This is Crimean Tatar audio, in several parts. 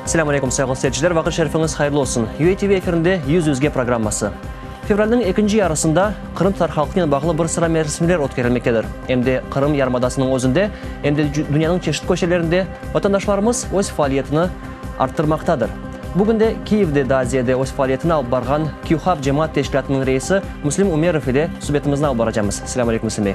Selâm aleykum, sayğılı seyirciler, vaqıt şerifiñiz hayırlı olsun. UA TV efirinde Yüz yüzge programması. Fevralniñ ekinci yarısında Qırım tatar halqınen bağlı bir sıra merasimler ötkerilmektedir. Em de Qırım yarımadasınıñ özünde, em de dünyanıñ çeşit köşelerinde vatandaşlarımız öz faaliyetini arttırmaqtadır. Bugün de Kiyevde daa ziyade öz faaliyetini alıp barğan KyuHab cemaat teşkilâtınıñ reisi Müslim Ümerov ile subetimizni alıp baracamız. Selâm aleykum, Müslim bey.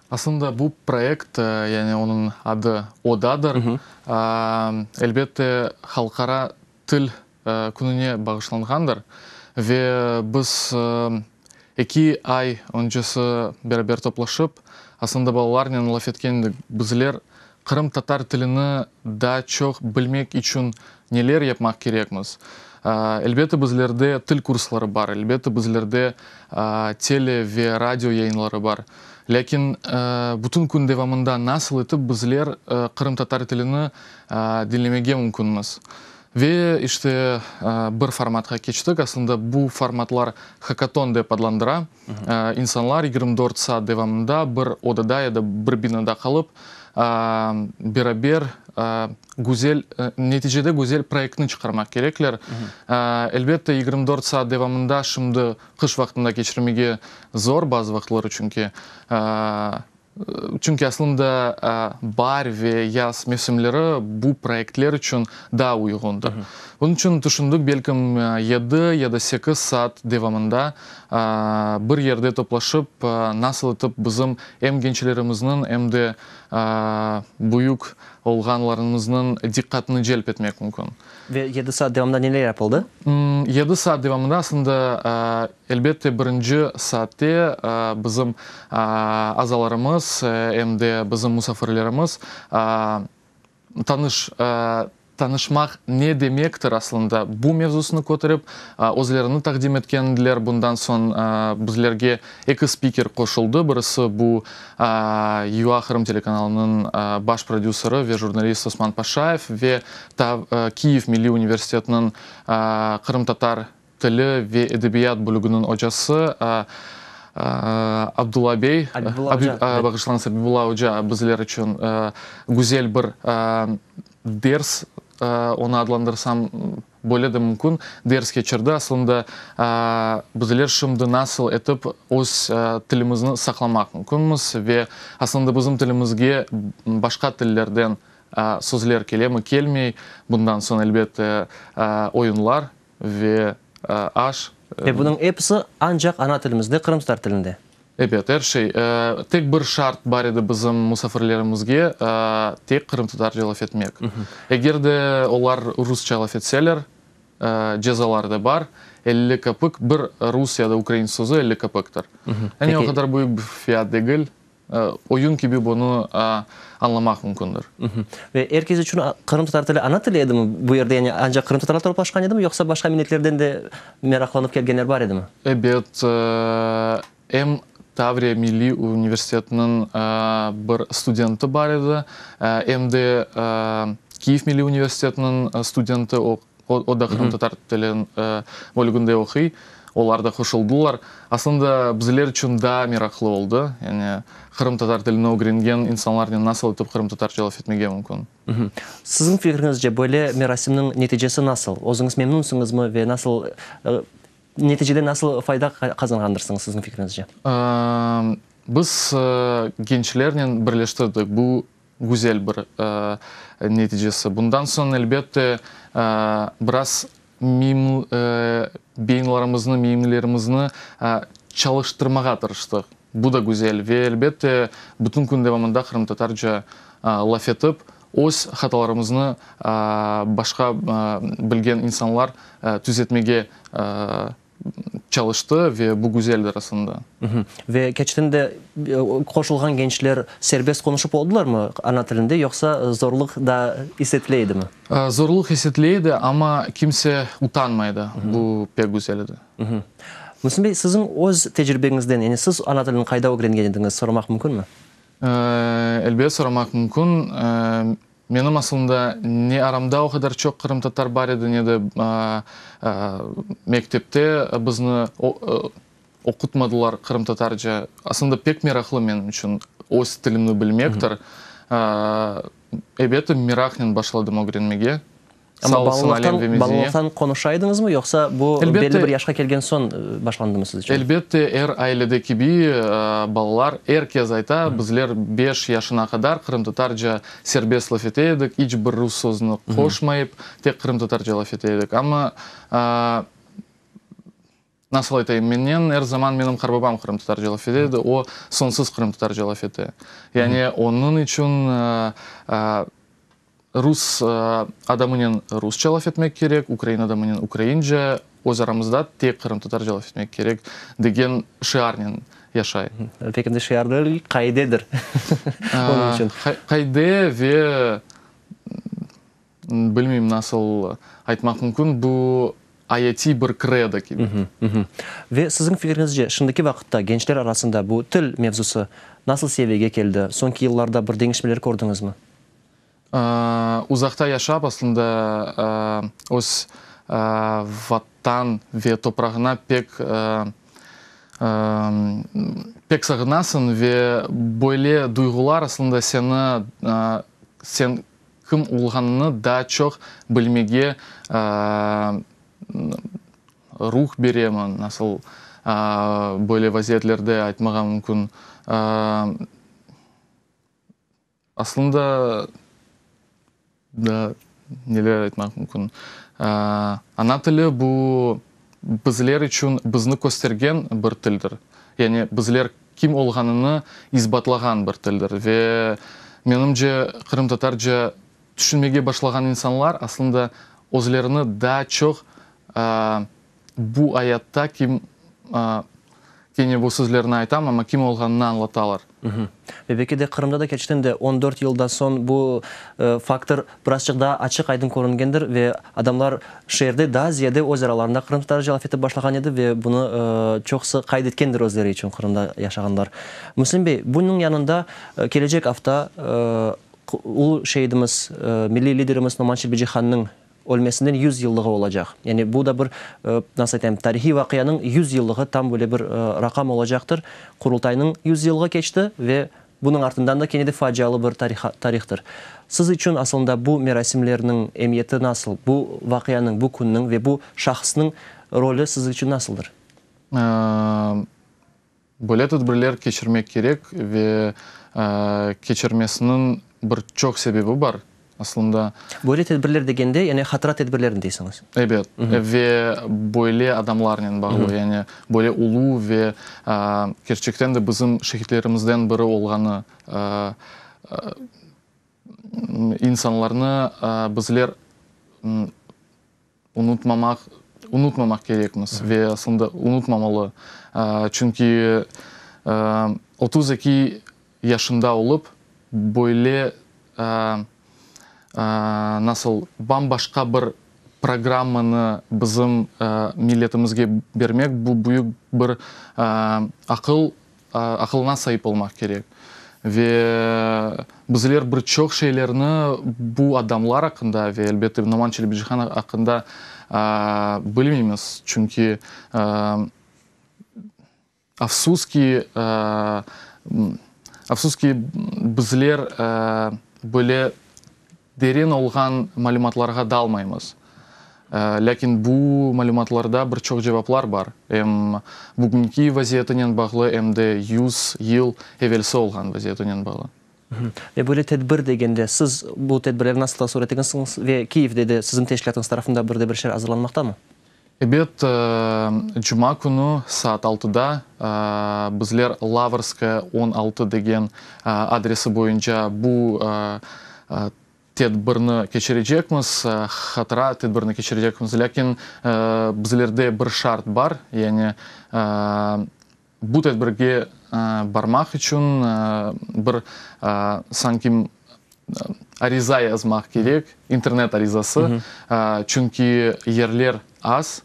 Aslında bu proyekt, yani onıñ adı Odadır, elbette Halqara til kününe bağışlanğandır. Ve biz eki ay öncesi beraber toplaşıp, aslında balalarnen laf etken edik, bizler Qırımtatar tilini daa çoq bilmek içün neler yapmaq kerekmiz? Elbette, bizlerde til kursları bar, elbette, bizlerde tele ve radio yayınları bar. Lâkin bütün kün devamında nasıl etip bizler qırımtatar tilini diñlemege mümkünmiz? Ve işte bir formatqa keçtik. Aslında bu formatlar hakaton dep adlandıra. İnsanlar yigirmi dört saat devamında bir odada ya da bir binada qalıp, beraber güzel, neticede güzel proyektni çıqarmaq kerekler. Elbette, yigirmi dört saat devamında şimdi qış vaqtında keçirmege zor bazı vaqıtları çünki. Çünki aslında baar ve yaz mevsimleri bu proyektler içün daa uyğundır. Bunıñ içün tüşündik, belkim yedi ya da sekiz saat devamında bir yerde toplaşıp, nasıl etip bizim em gençlerimizniñ, em de büyük olğanlarımıznıñ diqqatını celp etmek mümkün. Ve yedi saat devamında neler yapıldı? Yedi saat devamında aslında. Elbette, birinci saatte bizim azalarımız em de bizim musafirlerimiz tanış, tanışmaq ne demektir aslında, bu mevzusını köterip, özlerini taqdim etken ediler. Bundan soñ bizlerge eki spiker qoşuldı, birisi bu YUA Qırım telekanalınıñ baş prodüseri ve jurnalist Osman Paşayev ve Kiyev milliy universitetiniñ qırımtatar tili ve edebiyat bölüginiñ ocası Abdulla bey, bağışlañız, Abibulla oca bizler içün güzel bir ders, onı adlandırsam böyle de mümkün, ders keçirdi. Aslında bizler şimdi nasıl etip öz tilimizni saqlamaq mümkünmiz ve aslında bizim tilimizge başqa tillerden sözler kelemi, kelmey, bundan soñ, elbette, oyunlar ve aş. Ve bunıñ episi ancaq ana tilimizde, qırımtatar tilinde. Ebet, er şey. Tek bir şart bar edi bizim musafirlerimizge, tek qırımtatarca laf etmek. Eger de olar rusça laf etseler, cezaları da bar, elli köpük, bir rus ya da ukrain sözü elli köpüktir. Endi o qadar büyük bir fiyat degil. Oyun kibi bunı añlamaq mümkündir. Ve er kes içün qırımtatar tili ana tili edimi bu yerde? Yani ancaq qırımtatarlar toplaşqan edimi, yoqsa başqa milletlerden de meraqlanıp kelgenler bar edimi? Ebet, em Tavriya milliy universitetiniñ bir studenti bar edi, em de Kiyev milliy universitetiniñ studenti, o O da qırımtatar tili bölüginde oquy, olar da qoşuldılar. Aslında bizler içün daa meraqlı oldı, yani qırımtatar tilini ögrengen insanlarnen nasıl etip qırımtatarca laf etmege mümkün. Siziñ fikriñizce, böyle merasimniñ neticesi nasıl? Özüñiz memnunsıñızmı ve nasıl, neticeden nasıl fayda qazanğandırsıñız, siziñ fikriñizce? Biz gençlernen birleştirdik bu Güzel bir neticesi. Bundan soñ, elbette, biraz beyinlerimizni, miyimlerimizni çalıştırmağa tırıştıq. Bu da güzel. Ve, elbette, bütün kün devamında qırımtatarca laf etip, öz hatalarımıznı başqa bilgen insanlar tüzetmege tırıştıq. çalıştı ve bu güzel arasında. Ve keçten de qoşulğan gençler serbest qonuşıp oldılarmı ana tilinde, yoqsa zorluq da isetile edimi? Zorluq isetile edi, amma kimse utanmaydı, bu pek güzel edi. Mühsin bey, siziñ öz tecribeñizden, yani siz ana tilini qayda ögrengen ediñiz, soramaq mümkünmi? Elbet, soramaq mümkün. Menim aslında ne aramda o qadar çoq qırımtatar bar edi, ne de mektepte bizni oqutmadılar qırımtatarca. Aslında pek meraqlı menim içün öz tilimni bilmektir. Ebetim meraqnen başladım ögrenmege. Amma balalıqtan, balalıqtan qonuşa ediñizmi, yoqsa bu belli bir yaşqa kelgen soñ başlandımı siz içün? Elbette, er ailede kibi, balalar, er kez ayta, bizler beş yaşına qadar qırımtatarca serbest laf ete edik, iç bir rus sözüni qoşmayıp, tek qırımtatarca laf ete edik. Amma, Nasıl aytayım, mennen er zaman menim qarbabam qırımtatar celâf ete edi, o, sonsuz qırımtatar celâf ete. Yani onıñ içün rus adamınen rus celâf etmek kerek, ukrain adamınen ukraince, öz aramızda tek qırımtatar celâf etmek kerek degen şiarnen yaşay. Pek endi şiar degil, qaidedir onıñ içün. Qaide ve Bilmeyim, nasıl aytmaq mümkün, bu ayetiy bir kredo kibi. Ve siziñ fikrinizce, şimdiki vaqıtta gençler arasında bu til mevzusı nasıl seviyege keldi? Soñki yıllarda bir deñişmeler kördiñizmi? Uzaqta yaşap, aslında, öz Vatan ve toprağına pek pek sağınasıñ ve böyle duyğular, aslında, seni sen Kim olğanını daa çoq bilmege ruh beremi, nasıl böyle vaziyetlerde aytmağa mümkün. Aslında daa neler aytmaq mümkün. Ana tili bu, bizler içün bizni köstergen bir tildir, yani bizler kim olğanını isbatlağan bir tildir. Ve menimce, qırımtatarca tüşünmege başlağan insanlar aslında özlerini daa çoq bu ayatta kim Kene bu sözlerni aytam, amma kim olğanını añlatalar. Belki de Qırımda da keçten de on dört yıldan soñ bu faktor birazçıq daa açıq-aydın körüngendir ve adamlar şeerde daa ziyade öz aralarında qırım tatarı cevap etip başlağan edi ve bunı çoqusı qayd etkendir özleri içün Qırımda yaşağanlar. Müslim bey, bunıñ yanında kelecek afta ulu şeidimiz, milliy liderimiz Nomançı Bicihanniñ Ölmesinden yüz yıllığı olacaq. Yani bu da bir, nasıl aytayım, tarihiy vaqianıñ yüz yıllığı, tam böyle bir raqam olacaqtır. Qurultaynıñ yüz yıllığı keçti ve bunıñ artından da kene de facialı bir tarihtir. Siz içün asılında bu merasimlerniñ emiyeti nasıl? Bu vaqianıñ, bu künniñ ve bu şahısnıñ rolü siz içün nasıldır? Böyle tedbirler keçirmek kerek ve keçirmesiniñ bir çoq sebebi bar aslında. Böyle tedbirler degende, yani hatıra tedbirlerini deysiñiz? Ebet, ve böyle adamlarnen bağlı, yani böyle ulu ve kerçekten de bizim şehitlerimizden biri olğanı insanlarnı bizler Unutmamaq, unutmamaq kerekmiz ve aslında unutmamalı. Çünki otuz eki yaşında olıp, böyle, nasıl, bam-başqa bir programmanı bizim milletimizge bermek, bu büyük bir aqıl Aqılına saip olmaq kerek. Ve bizler bir çoq şeylerni bu adamlar aqqında ve, elbette, Noman Çelebicihan aqqında bilmeymiz. Çünki, afsus ki, afsus ki, bizler böyle Deren olğan malümatlarğa dalmaymız, lâkin bu malümatlarda bir çoq cevaplar bar, em bugünki vaziyetinen bağlı, em de yüz yıl evelsi olğan vaziyetinen bağlı. Ve böyle tedbir degende, siz bu tedbirleri nasıl tasvir ettiñizsiñiz? Ve Kiyevde de siziñ teşkilâtıñız tarafında bir de bir şeyler azırlanmaqtamı? Ebet, cuma künü saat altıda bizler Lavrskaya on altı degen adresi boyunca bu tedbirni keçirecekmiz, hatıra tedbirini keçirecekmiz. Lâkin bizlerde bir şart bar, yani, Bu tedbirge barmaq içün bir sanki ariza yazmaq kerek, internet arizası, çünki yerler az,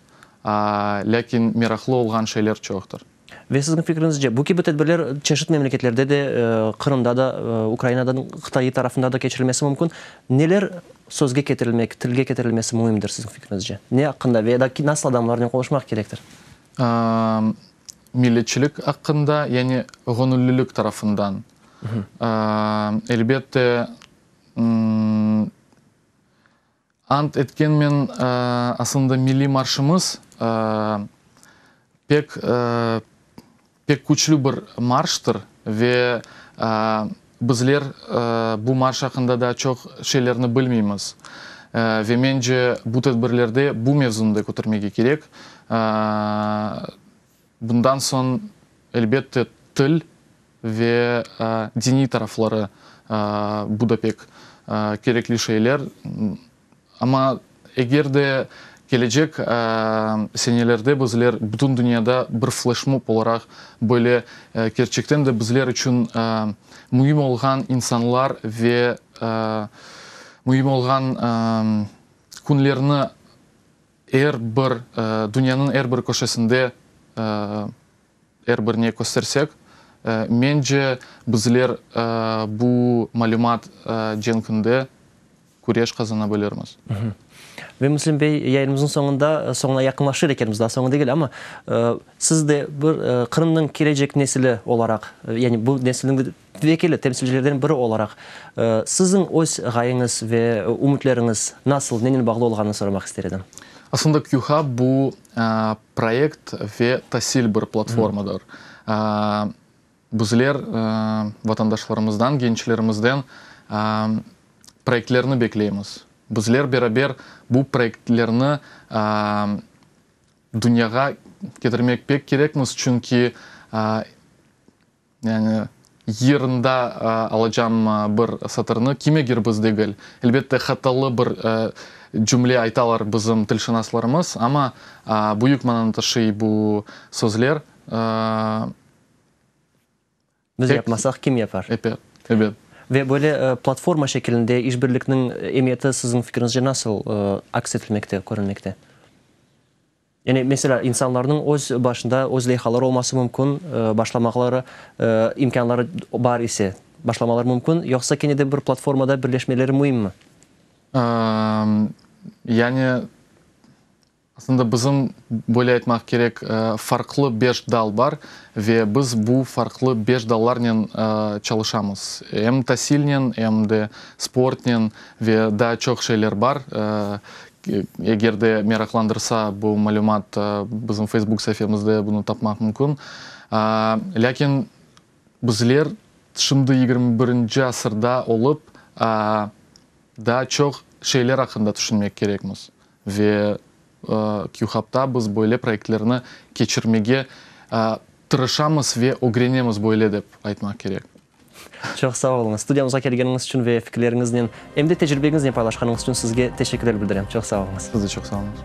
lâkin meraqlı olğan şeyler çoqtır. Ve siziñ fikriñizce, bu kibi tedbirler çeşit memleketlerde de, Qırımda da, Ukrainada, Qıtay tarafında da keçirilmesi mümkün. Neler sözge ketirilmek, tilge ketirilmesi müimdir siziñ fikriñizce? Ne aqqında ve ya da nasıl adamlarnen qoluşmaq kerektir? Milletçilik aqqında, yani ğonüllilik tarafından. Elbette, ant etkenmen, asılında milliy marşımız pek Pek küçlü bir marştır ve bizler bu marş aqqında daa çoq şeylerni bilmeymiz. Ve mence, bu tedbirlerde bu mevzunı da kötermege kerek. Bundan soñ, elbette, til ve diniy tarafları, bu da pek kerekli şeyler. Amma eger de kelecek senelerde bizler bütün dünyada bir fleşmob olaraq böyle kerçekten de bizler içün müim olğan insanlar ve müim olğan künlerni er bir, dünyanıñ er bir köşesinde Er birine köstersek, mence, bizler bu malümat cenkinde küreş qazanabilirmiz. Ve Müslim bey, yayınımıznıñ soñunda, soñuna yaqınlaşır ekenmiz, daa soñu degil, amma siz de bir Qırımnıñ kelecek nesili olaraq, yani bu nesilniñ vekili, temsilcilerden biri olaraq, siziñ öz ğayeñiz ve ümütleriñiz nasıl, nenen bağlı olğanını soramaq ister edim. Aslında QHAP bu, Proyekt ve tasil bir platformadır. Bizler vatandaşlarımızdan, gençlerimizden proyektlerni bekleymiz. Bizler beraber bu proyektlerni dünyağa ketirmek pek kerekmiz, çünki Yani, yırında alacam bir satırnı, kimedir biz degil. Elbette, hatalı bir cümle aytalar bizim tilşınaslarımız, amma büyük mananı taşıy bu sözler. Biz yapmasaq, kim yapar? Ebet, ebet. Ve böyle platforma şekilinde işbirlikniñ emiyeti siziñ fikirinizce nasıl aks etilmekte, körülmekte? Yani, meselâ, insanlarnıñ öz başında öz leyhaları olması mümkün, başlamaqları imkânları bar ise, başlamaları mümkün, yoqsa kene de bir platformada birleşmeleri müimmi? Yani, aslında bizim, böyle aytmaq kerek, farqlı beş dal bar ve biz bu farqlı beş dallarnen çalışamız. Em tasilnen, em de sportnen ve daa çoq şeyler bar. Eger de meraqlandırsa, bu malümat bizim Facebook saifemizde bunı tapmaq mümkün. Lâkin bizler şimdi yigirmi birinci asırda olıp, daa çoq şeyler aqqında tüşünmek kerekmiz. Ve QHubda biz böyle proyektlerni keçirmege tırışamız ve ögrenemiz, böyle dep aytmaq kerek. Çoq sağ oluñız, studiyamızğa kelgeniñiz içün ve fikirleriñiznen, em de tecribeñiznen paylaşqanıñız içün sizge teşekkürler bildirem. Çoq sağ oluñız. Siz de çoq sağ oluñız.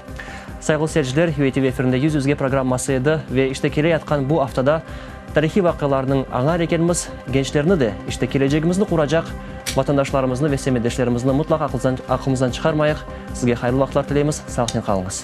Sayğılı seyirciler, UATV efirinde Yüz yüzge programması edi ve işte kele yatqan bu aftada tarihiy vaqialarnıñ añar ekenmiz, gençlerni de, işte kelecegimizni quracaq vatandaşlarımıznı ve semetdeşlerimizni mutlaq aqlımızdan çıqarmayıq. Sizge hayırlı vaqıtlar tileymiz, sağlıqnen qalıñız.